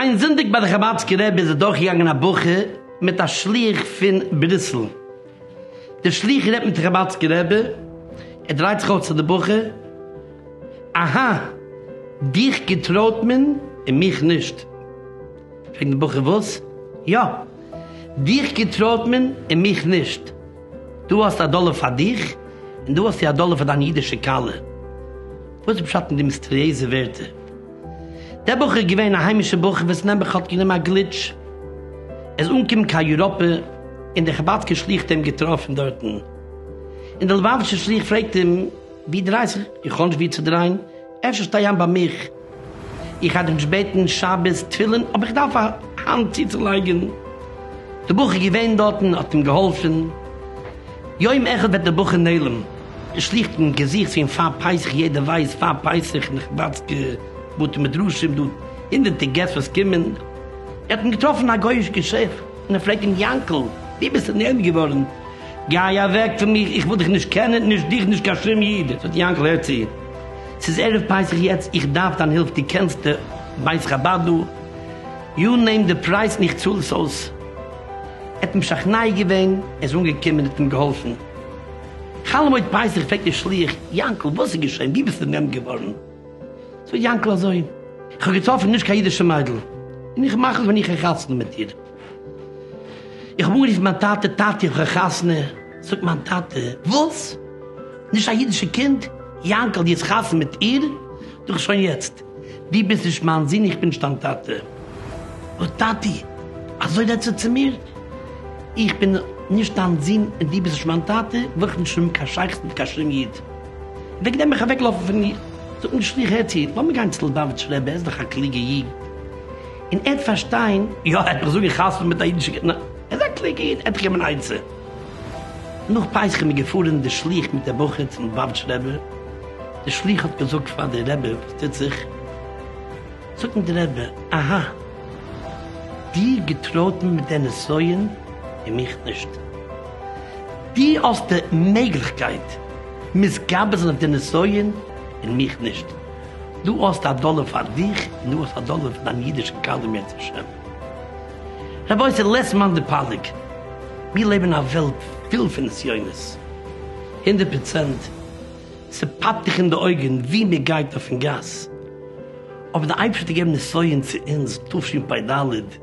איין זונטאג ביי די חבדסקע רבי איז אדורכגעגאנגען א בחור מיט א שליח פון בריסל, דער שליח רעדט מיט חבדסקע רבי, ער דרייט זיך אויס צו די בחור, אהא, דיך געטרויט מען און מיך נישט. פרעגט דער בחור וואס? יא! דיך געטרויעט מען און מיך נישט. דו האסט א דאלער פאר דיך און דא האסטו א דאלער פאר דיין אידישע כלה. וואס איז פשט אין די מיסטריעזע ווערטער? דער בחור איז געווען א היימישער בחור וואס נעבעך האט גענומען א גליטש. ער איז אנגעקומען קיין יוראפע און דער חבד'סקער שליח האט אים געטראפן דארטן. און דער לובאוויטשער שליח פרעגט אים, ווי דרייסט זיך? איך האב נישט ווי צו דרייען, אפשר שטיי איין ביי מיך. איך האב דיך ג'בעטן שבת תפילין אבער איך דארף א האנט צוצולייגען, די בחור איז געווען דארטן און האט אים געהאלפען, יום אחד וועט די בחור נעלם, איך שליכט אין געזיכט צו אים פאר פסח יעדער ווייסט פאר פסח אין די חבד'סקע בתי מדרשים דא הונדערטער געסט וואס קומען, ער האט אים געטראפען א גוי'איש געשעפט און ער פרעגט אים יענקל ווי ביסטו נעלם געווארען, גיי אוועק פון מיר איך וויל דיך נישט קענען נישט דיך נישט קיין שום איד, זאגט יענקל הער צו. ס'איז ערב פסח יעצט איך דארף דיין הילף די קענסט די בית חבד דא יו נעים די פרייז און איך צאל עס אויס ער האט משכנע געווען ער איז אנגעקומען האט אים געהאלפן חל מועד פסח פרעגט די שליח יענקל וואס איז געשען ווי ביסטו נעם געווארן זאגט יענקל אזוי איך האב געטראפן נישט קיין אידישע מיידל און איך מאך עס ווען איך א חתונה מיט איר. איך האב אנגערופן מיין טאטע, טאטי איך האב א חתונה, זאגט מיין טאטע, וואס? נישט א אידישע קינד? יאנקל די האסט חתונה מיט איר? זאג איך שוין יעצט, די ביסט נישט מיין זון איך בין נישט דיין טאטע. אוי טאטי אזוי רעדסטו צו מיר? איך בין נישט דיין זון און די ביסט נישט מיין טאטע ברויך נישט האבן קיין שייכות מיט קיין שום איד. וועגן דעם בין איך אוועקגעלאפן פון איר. זאגט מיר די שליח הער צו, לאמיר גיין צו לובאוויטשער רבי ער איז דאך א קלוגע איד. און ער האט פארשטיין. יא, ער האט מיך זאגאר חתונה מיט א אידישע קינד. ער איז א קלוגע איד, ער האט געגעבן אן עצה. נאך פסח איז מען געפארען דער שליח מיט דער בחור צום לבאבטש רבי. דער שליח האט געזאגט פאר דער רבי וואס טוט זיך. זאגט אים דער רבי, אהא. דיר געטראטען מיט דער נסיון און מיך נישט. דו האסט די מעגליכקייט מתגבר זיין אויף דער נסיון און מיך נישט. דו האסט א דאלער פאר דיך און דו האסט א דאלער פאר דיין אידישע כלה אם ירצה השם. רבותי לעטס מאן דפליג, מיר לעבן אין א וועלט פול פון נסיונות, הונדערט פראצענט ס'פאפט דיך אין די אויגן וואו מען גייט אויפן גאס, אבער די אייבערשטער האט געגעבן נסיון צו אונז תשפ ד,